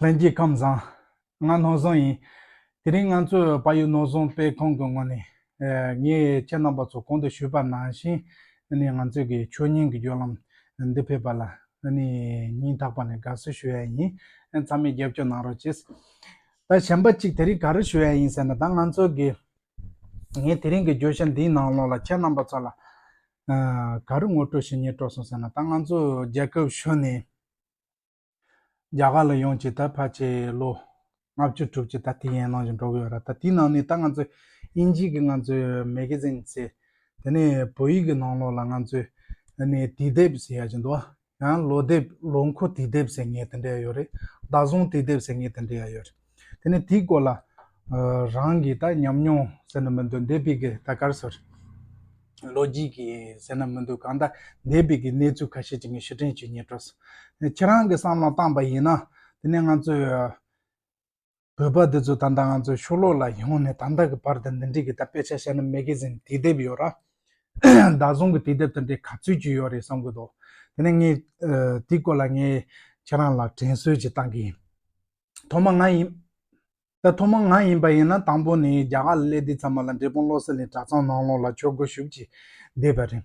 ལྷན་སྐྱེས་ཁམས་བཟང། ང་ནོར་བཟང་ཡིན། དེ་རིང་ང་ཚོས་ཕ་ཡུལ་ནོར་བཟང་དཔེ་ཁང་གི་ངོས་ནས། ངས་ཁྱེད་རྣམ་པ་ཚོ་གོང་དུ་ཞུས་པ་ནང་བཞིན། ང་ཚོས་ཀྱི་ཆོས་ཉིད་ཀྱི་བརྒྱུད་ལམ་འདི་ཕེབས་པ་ལ། སྙིང་ཐག་པ་ནས་དགའ་བསུ་ཞུ་ཡ་ཡིན། མཚམས་མེད་རྒྱབ་སྐྱོར་གནང་རོགས་གྱིས། ད་གཞན་པ་གཅིག་དེ་རིང་ག་རེ་ཞུ་ཡ་ཡིན་ཟེར་ན་ད་ང་ཚོས་ཀྱི། ངས་དེ་རིང་གི་བརྗོད་གཞི་འདིའི་ནང་ལོགས་ལ་ཁྱེད་རྣམ་པ་ཚོ་ལ། ག་རེ་ངོ་སྤྲོད་བྱེད་ཉེ་སྤྲོ་སོང་ཟེར་ན་ད་ང་ཚོས་རྒྱལ་ཁབ་གཞོན་ནས། རྒྱ་གར་ལ་ཡོང་བྱས་ད་བར་ཆད་ལོ་ལྔ་བཅུ་དྲུག་ཅུ་ད་དེ་ཡན་ནང་བཞིན་འགྲོ་གི་ཡོད་ར་ད་དེའི་ནང་ནས་ད་ང་ཚོས་དབྱིན་ཇིའི་གི་ང་ཚོའི་མེ་གི་ཟིན་ཚེ་དེ་ནས་བོད་ཡིག་གི་ནང་ལོགས་ལ་ང་ཚོས་ནས་དུས་དེབ་ཟེར་ཡག་གྱི་འདུག་ཡང་ལོ་དེབ་ལོ་འཁོར་དུས་དེབ་ཟེར་ངེས་དེ་འདྲ་ཡོད་རེད་བདག་བཟུང་དུས་དེབ་ཟེར་ངེས་དེ་འདྲ་ཡག་ཡོད་རེད། དེ་ནས་དེའི་སྐོར་ལ། རང་གིས་ད་ཉམས་མྱོང་ཟེར་ན་མི་འདུག་འདས་པའི་གི་ད་གར་སོར། ལོ་རྒྱུས་ཀྱི་ཟེར་ན་མི་འདུག་གང་ལྟར་འདས་པའི་གི་གནས་ཚུལ་ཁ་ཤས་ཅིག་ངས་ཕྱིར་དྲན་བྱེད་ཉེར་སྤྲོ་སོང། ནས་ཁྱེད་རང་གི་བསམ་བློར་བཏང་པ་ཡིན་ན། དེ་ནས་ང་ཚོས། བོད་པ་འདི་ཚོ་ད་ལྟ་ང་ཚོའི་ཤོ་ལོ་ལ་ཡོང་ནས་ད་ལྟ་གི་བར་དུ་འདི་འདྲའི་གི་ད་དཔེ་ཆ་བཤད་ན་མེ་གི་ཟིན་དུས་དེབ་ཡོད་ར། བདག་བཟུང་གི་དུས་དེབ་དེ་འདྲའི་ག་ཚོད་ཅིག་ཡོད་རེད་བསམ་གྱི་འདུག་དེ་ནས་ངས། དེའི་སྐོར་ལ་ངས་ཁྱེད་རང་ལ་དྲན་གསོས་ཅིག་བཏང་གི་ཡིན། ཐོག་མ་ང་ཡིན། ད་ཐོག་མ་ང་ཡིན་པ་ཡིན་ན་དང་པོ་ནས་རྒྱ་གར་གླེ་འདི་ཚང་མ་ལ་འབྲས་སྤུངས་བློ་གསལ་ནས་གྲྭ་ཚང་ནང་ལོགས་ལ་ཆོས་སྒོ་ཞུགས་ཀྱིས་བསྡད་པ་རེད།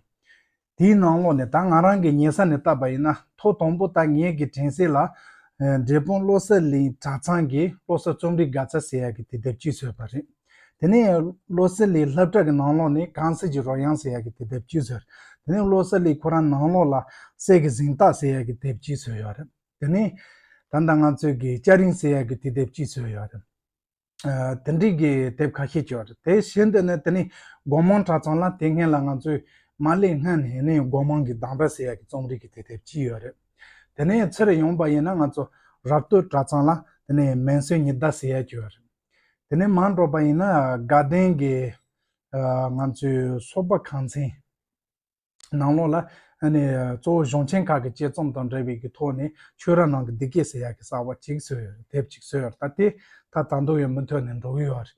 དེའི་ནང་ལོགས་ནས་ད་ང་རང་གི་ཉེ་ས་ནས་བཏབ་པ་ཡིན་ན་ཐོག་དང་པོ་ད་ངེད་ཀྱི་དྲན་གསལ་ལ། འབྲས་སྤུངས་བློ་གསལ་གླིང་གྲྭ་ཚང་གི་བློ་གསལ་རྩོམ་རིག་དགའ་ཚལ་ཟེར་ཡ་གི་དེ་དེབ་སྐྱིད་བཟོས་པ་རེད། དེ་ནས་བློ་གསལ་གླིང་ལྷབ་བྲག་གི་ནང་ལོགས་ནས་གངས་སེར་གྱི་རོལ་དབྱངས་ཟེར་ཡ་གི་དེ་དེབ་སྐྱིད་བཟོས། དེ་ནས་བློ་གསལ་གླིང་ཁོ་རང་ནང་ལོགས་ལ་སྲས་ཀྱི་གཟེངས་རྟགས་ཟེར་ཡ་གི་དེབ་སྐྱིད་བཟོས་ཡོད་རེད། དེ་ནི་ད་ལྟ་ང་ཚོས་ཀྱི་སྐྱ་རིང་སེ་ཡ་གི་དུས་དེབ་ཅིག་བཟོས་ཡོད་རེད། དེ་འབྲེལ་གྱི་དེབ་ཁ་ཤས་བྱུང་ཡོད་རེད་དེ་བཞིན་དུ་ནི་དེ་ནི་སྒོ་མང་གྲྭ་ཚང་ལ་དེ་སྔོན་ལ་ང་ཚོས་མ་སླེབས་སྔོན་ནས་ནི་སྒོ་མང་གི་སྡང་དགྲ་སེ་ཡ་གི་རྩོམ་རིག་གི་དུས་དེབ་ཅིག་ཡོད་རེད། དེ་ནས་ཚེར་ཡོང་བ་ཡིན་ན་ང་ཚོ་རབ་སྟོད་གྲྭ་ཚང་ལ་དེ་ནི་མན་སོན་ཉི་ཟླ་སེ་ཡ་བྱུང་ཡོད་རེད། དེ་ནས་མ་འགྲོ་བ་ཡིན་ན་དགའ་ལྡན་གྱི་ང་ཚོའི་སོག་པ་ཁང་ཚན། ནང་ལོགས་ལ། གཙོ་བོ་གཞུང་ཆེན་ཁག་གི་དཔྱད་རྩོམ་དང་འབྲེལ་བའི་གི་ཐོག་ནས་ཆོས་ར་ནང་གི་འདི་སྐད་ཟེར་ཡག་གི་གསར་བ་ཅིག་བཟོས་ཡོད་དེབ་ཅིག་བཟོས་ཡོད་ད་དེ་ད་ད་མདོ་ཡོད་མུ་མཐུད་ནས་འགྲོ་གི་ཡོད་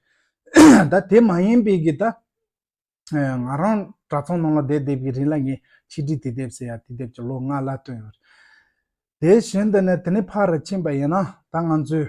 རེད། ད་དེ་མ་ཡིན་པའི་གི་ད། ང་རང་གྲྭ་ཚང་ནང་ལ་བསྡད་བསྡད་པའི་རིང་ལ་ངས་ཆིག་སྒྲིལ་དེ་དེབ་ཟེར་ཡག་དེ་དེབ་ཅིག་ལོ་ལྔ་ལ་བཏོན་ཡོད་རེད། དེ་བཞིན་དུ་ནས་དེ་ནས་ཕར་ར་ཕྱིན་པ་ཡིན་ན་ད་ང་ཚོའི།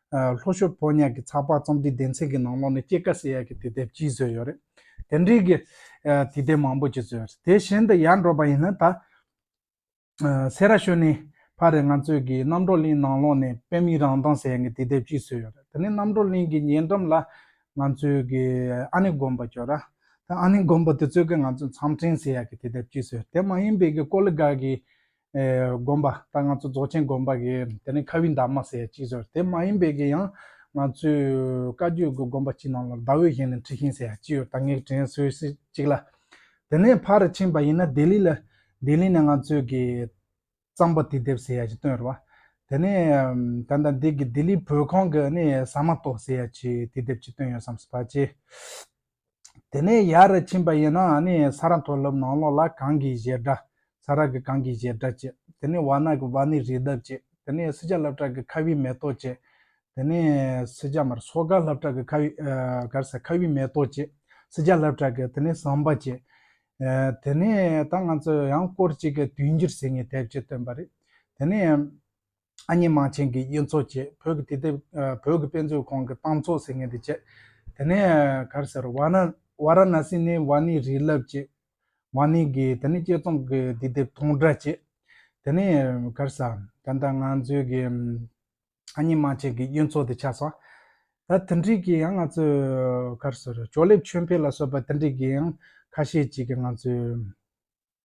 ལྷོ་ཤོད་ཕོ་ཉས་ཀྱི་ཚགས་པར་རྩོམ་སྒྲིག་སྡེ་ཚན་གྱི་ནང་ལོགས་ནས་སྐྱེད་ཀ་སེ་ཡ་གྱི་དུས་དེབ་གཅིག་བཟོས་ཡོད་རེད། དེ་འབྲེལ་གྱི་དུས་དེབ་མང་པོ་ཅིག་བཟོས་ཡོད། དེ་བཞིན་དུ་ཡར་འབྲོག་པ་ཡིན་ན་ད་སེ་ར་ཤོད་ནས་ཕར་རེད་ང་ཚོས་ཀྱི་གནམ་གྲོག་གླིང་ནང་ལོགས་ནས་དཔེ་མིག་རང་མདངས་སེ་ཡ་གྱི་དུས་དེབ་གཅིག་བཟོས་ཡོད་རེད། དེ་ནས་གནམ་གྲོག་གླིང་གི་ཉེ་འགྲམ་ལ་ང་ཚོས་ཀྱི་ཨ་ནི་དགོན་པ་བྱོ་ར། ཨ་ནི་དགོན་པ་དེ་ཚོས་ཀྱི་ང་ཚོས་མཚམས་སྤྲིན་སེ་ཡ་གྱི་དུས་དེབ་གཅིག་བཟོས་ཡོད། དེ་མ་ཡིན་པའི་ཀི་ཀོ་ལི་དགའ་གི་དགོན་པ་ད་ང་ཚོ་རྫོགས་ཆེན་དགོན་པ་གི་དེ་ནས་ཁ་བའི་འདབ་མ་ཟེར་གཅིག་ཟེར་དེ་མ་ཡིན་པའི་གི་ཡང་ང་ཚོའི་བཀའ་བརྒྱུད་གི་དགོན་པ་གཅིག་ནང་ལ་ཟླ་འོད་བཞེངས་ནས་འཁྲི་ཤིང་ཟེར་ཡང་གཅིག་ཡོད་ད་ངས་དྲན་སོས་སི་གཅིག་ལ། དེ་ནས་ཕར་རུ་ཕྱིན་པ་ཡིན་ན་ལྡི་ལི་ལ། ལྡི་ལི་ནས་ང་ཚོའི་གི་གཙང་པ་དུས་དེབ་ཟེར་ཡང་གཅིག་བཏོན་རུ་བ། དེ་ནས་ད་ལྟ་འདི་གི་ལྡི་ལིའི་བོད་ཁང་གི་ནི་ཟ་མ་ཏོག་ཟེར་ཡང་གཅིག་དུས་དེབ་གཅིག་བཏོན་ཡོད་བསམ་སི་བ་གཅིག། དེ་ནས་ཡར་རེ་ཕྱིན་པ་ཡིན་ན་ནི་ས་ར་མཐོ་སློབ་ནང་ལོགས་ལ་གངས་ཀྱི་བཞེར་སྒྲ། ས་ར་གི་གངས་ཀྱི་བཞེར་སྒྲ་བཅས། དེ་ནས་བ་ན་གི་བ་ནི་རི་འདབས་བཅས། དེ་ནས་སི་ཅཱ་ལབ་བྲག་གི་ཁ་བའི་མེ་ཏོག་བཅས། དེ་ནས་སི་ཅཱ་མར་སོ་ག་ལབ་བྲག་གི་ཁ་བའི། གར་ས་ཁ་བའི་མེ་ཏོག་བཅས། སི་ཅཱ་ལབ་བྲག་གི་དེ་ནས་ཟངས་པ་བཅས། དེ་ནས་ད་ང་ཚོས་ཡང་སྐོར་གཅིག་གི་དུས་འགྱུར་ཟེར་ངེས་དེབ་ཅིག་བཏོན་པ་རེད། དེ་ནས། ཨ་མྱེས་མང་ཆེན་གྱི་གཡུ་མཚོ་བཅས་བོད་ཀྱི་དུས་དེབ་བོད་ཀྱི་དཔེ་མཛོད་ཁང་གི་ཏང་ཚོགས་ཟེར་མཁན་དེ་བཅས། དེ་ནས་གར་སེར་བྷ་ར་བྷ་ར་ན་སི་ནི་བྷ་ནི་རི་རླབས་བཅས་བྷ་ནི་གི་དེ་ནི་དཔྱད་རྩོམ་གྱི་དུས་དེབ་སྟོང་སྒྲ་བཅས། དེ་ནས་གར་ས། ད་ལྟ་ང་ཚོའི་གི་ཨ་མྱེས་མང་ཆེན་གྱི་གཡུ་མཚོ་དེ་ཆགས་སོང། ད་དེ་འབྲེལ་གྱི་ཡང་ང་ཚོས་གར་སེར་ཅོག་ལེབ་ཆོས་འཕེལ་ལ་སོགས་པ་དེ་འབྲེལ་གྱི་ཡང་ཁ་ཤས་ཅིག་གི་ང་ཚོས།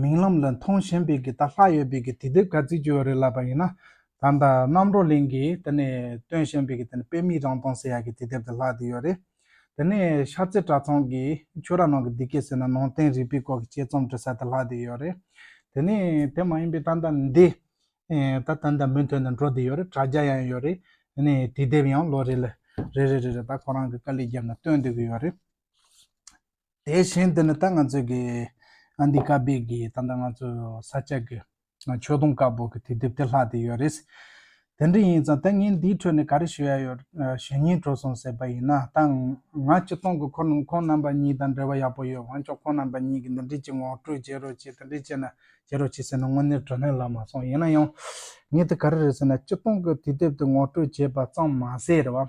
མིག་ལམ་ལ་མཐོང་ཞེན་པའི་གི་ད་ལྷག་ཡོད་པའི་གི་དེ་དེབ་ག་ཚིག་བཅོས་བ་རེད་ལབ་པ་ཡིན་ན་ད་ད་རྣམ་རོ་གླིང་གི་དེ་ནས་སྟོན་བཞིན་པའི་གི་དེ་ནས་དཔེ་མིག་རང་སྟོང་ཟེར་ཡ་གི་དེ་དེབ་དེ་ལྷག་དེ་ཡོད་རེད་དེ་ནས་ཤར་རྩེ་གྲྭ་ཚང་གི་ཆོས་ར་ནང་གི་འདི་སྐད་ཟེར་ན་ནང་བསྟན་རིག་པའི་སྐོར་གི་དཔྱད་རྩོམ་བྲི་ས་དེ་ལྷག་དེ་ཡོད་རེད་དེ་ནས་དེ་མ་ཡིན་པའི་ད་ད་འདི་ད་ད་ད་མུན་ཐོད་ནས་འགྲོ་དེ་ཡོད་རེད་དྲ་རྒྱ་ཡང་ཡོད་རེད་དེ་ནས་དེ་དེབ་ཡང་ལོ་རེ་ལ་རེ་རེ་རེ་རེ་ད་ཁོ་རང་གི་དཀའ་ལས་རྒྱབ་ནས་སྟོན་དེ་གི་ཡོད་རེད། དེ་བཞིན་དུ་ནི་ད་ང་ཚོས་ཀྱི་ཨ་འདི་ཀ་བེ་ཀྱི་ད་ལྟ་ང་ཚོས་ས་སྐྱ་ཀྱི་མཆོད་སྡོང་དཀར་པོ་ཀྱི་དེ་དེབ་དེ་ལྷག་དེ་ཡོད་རེད། དེ་འདྲ་ཡིན་ཙང་ད་ངས་འདིའི་ཁྲོད་ནས་ག་རེ་ཞུ་ཡ་ཡོད་ཞེ་སྙིང་དྲོ་སོང་ཟེར་པ་ཡིན་ན་ད་ང་སྤྱི་སྟོང་གི་ཁོ་ནོང་ཁོང་རྣམ་པ་གཉིས་དང་འབྲེལ་བ་ཡག་པོ་ཡོད་དབང་ཆོག་ཁོང་རྣམ་པ་གཉིས་ཀྱིས་འདི་འདྲི་གྱི་ངོ་སྤྲོད་བྱེད་རོགས་གྱིས་དེ་འདྲི་བྱས་ན་བྱེད་རོགས་གྱིས་ཟེར་ན་དངོས་གནས་དྲོ་ནས་ལབ་མ་སོང་ཡིན་ན་ཡང་ངས་དེ་ག་རེ་རེད་ཟེར་ན་སྤྱི་སྟོང་གི་དེ་དེབ་དེ་ངོ་སྤྲོད་བྱས་པ་ཙམ་མ་ཟད་རེད་བ།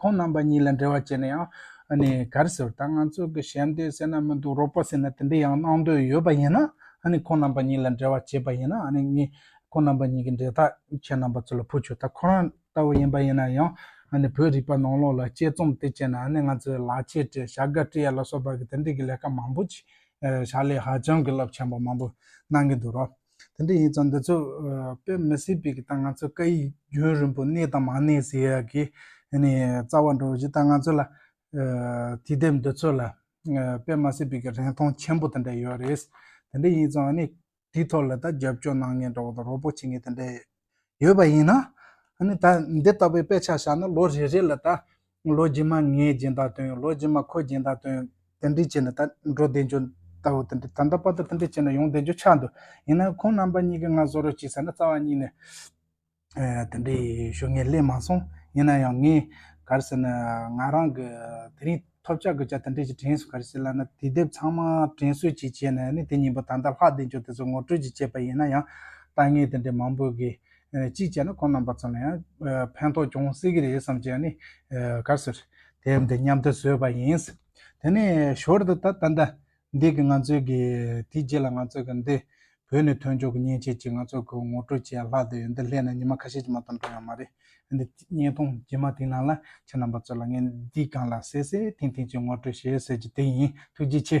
ཁོང་རྣམ་པ་གཉིས་ལ་འབྲེལ་བ་བྱས་ན་ཡང་ནས་གར་ཟེར་ད་ང་ཚོ་གི་ཞལ་འདེབས་སེ་ན་མི་འདུག་རོགས་པ་ཟེར་ན་དེ་འདྲའི་ཡང་གནང་འདོད་ཡོད་པ་ཡིན་ན་ཨ་ནི་ཁོང་རྣམ་པ་གཉིས་ལ་འབྲེལ་བ་བྱས་པ་ཡིན་ན་ཨ་ནི་ངས་ཁོང་རྣམ་པ་གཉིས་ཀྱི་འབྲེལ་ཐག་ཁྱེད་རྣམ་པ་ཚོ་ལ་ཕུལ་ཆོག་ད་ཁོ་རང་ལྟ་བུ་ཡིན་པ་ཡིན་ན་ཡང་ཨ་ནི་བོད་རིག་པ་ནང་ལོག་ལ་དཔྱད་རྩོམ་དེ་བྱས་ན་ཨ་ནི་ང་ཚོའི་ལག་ཁྱེར་སྤྲད་བྱ་དགའ་སྤྲད་ཡ་ལ་སོགས་པ་གི་དེ་འདྲའི་གི་ལས་ཀ་མང་པོ་བྱས་ཞག་ལས་ཧ་ཅང་གི་རླབས་ཆེན་པོ་མང་པོ་གནང་གི་འདུག་རོགས། དེ་འདྲ་ཡིན་ཙང་འདི་ཚོ་དཔེ་མི་སྲིད་པའི་ད་ང་ཚོ་སྐད་ཡིག་རྒྱུན་རིང་པོ་གནས་དང་མ་གནས་ཟེར་ཡག་གི་ནི་རྩ་བ་འགྲོ་བཞིན་ད་ང་ཚོ་ལ་དུས་དེབ་འདི་ཚོ་ལ་དཔེ་མ་སྲིད་པའི་རིན་ཐང་ཆེན་པོ་དེ་འདྲ་ཡོད་རེད། དེ་འདྲ་ཡིན་ཙང་ནི་དེའི་ཐོག་ལ་ད་རྒྱབ་སྐྱོར་གནང་ངེས་འདྲ་བོ་དང་རོགས་པོ་བྱེད་ངེས་དེ་འདྲ་ཡོད། ཡོད་པ་ཡིན་ན། ནི་ད་འདི་ལྟ་བུའི་དཔེ་ཆ་བཞག་ན་ལོ་རེ་རེ་ལ་ད། ལོ་རྗེས་མ་ངས་སྦྱིན་བདག་དོན་ལོ་རྗེས་མ་ཁོས་སྦྱིན་བདག་དོན། དེ་འདྲས་བྱས་ན་ད་འགྲོ་བདེ་འགྱོ། ད་འོ་དེ་འདྲས་ད་འདའ་པ་ད་དེ་འདྲས་བྱས་ན་ཡོང་བདེ་འགྱོ་ཆགས་འདུག་ཡིན་ནའི་ཁོང་རྣམ་པ་གཉིས་ཀས་ང་བཟོ་རོགས་གྱིས་ཟེར་ན་རྩ་བ་གཉིས་ནས། དེ་འདྲས་ཞུ་ངས་གླེང་མ་སོང་ཡིན་ན་ཡང་ངས་གར་ཟེར་ན་ང་རང་གི་དེ་རིང། ཐོབ་བྱ་དགོས་བྱ་དང་འབྲེལ་གྱི་དྲན་གསོ་ག་རེ་བྱེད་ལབ་ན་དུས་དེབ་ཚང་མ་དྲན་གསོ་ཅིག་བྱས་ནས་ནི་དེ་ཉིན་པོ་ད་ལྟ་ལྷག་བདེ་འབྱོར་དེ་ཚོ་ངོ་སྤྲོད་ཅིག་བྱས་པ་ཡིན་ན་ཡང་ལྟ་ངན་དེ་འདྲའི་མང་པོ་གིས། གཅིག་བྱས་ན་ཁོང་རྣམ་པ་ཚོ་ལ་ཡང་ཕན་ཐོགས་ཅུང་ཟད་ཀྱི་རེད་བསམ་གྱི་ནི། ག་ཟེར། དེབ་འདི་མཉམ་དུ་བཟོས་པ་ཡིན། དེ་ནས་ཞོར་དུ་ད་ལྟ། འདས་ཀྱི་ང་ཚོས་ཀྱི་དེའི་རྗེས་ལ་ང་ཚོས་ཀྱི་འདི་བོད་ནས་ཐོན་ཆོག་གི་མཉེན་ཆས་ཀྱིས་ང་ཚོ་ཀྱི་ངོ་སྤྲོད་བྱས་ལྷག་དེ་འདི་སླད་ནས་ཉི་མ་ཁ་ཤས་ཀྱི་མ་གཏོགས་འགྲོ་ཡང་མ་རེད། འདི་བརྙན་ཐུང་རྗེས་མ་དེའི་ནང་ལ་ཁྱེད་རྣམ་པ་ཚོ་ལ་ངས་འདིའི་སྒང་ལ་གསལ་གསལ་ཐིང་ཐིང་གྱི་ངོ་སྤྲོད་བྱེད་ཟེར་རྒྱུ་དེ་ཡིན་ཐུགས་རྗེ་ཆེ།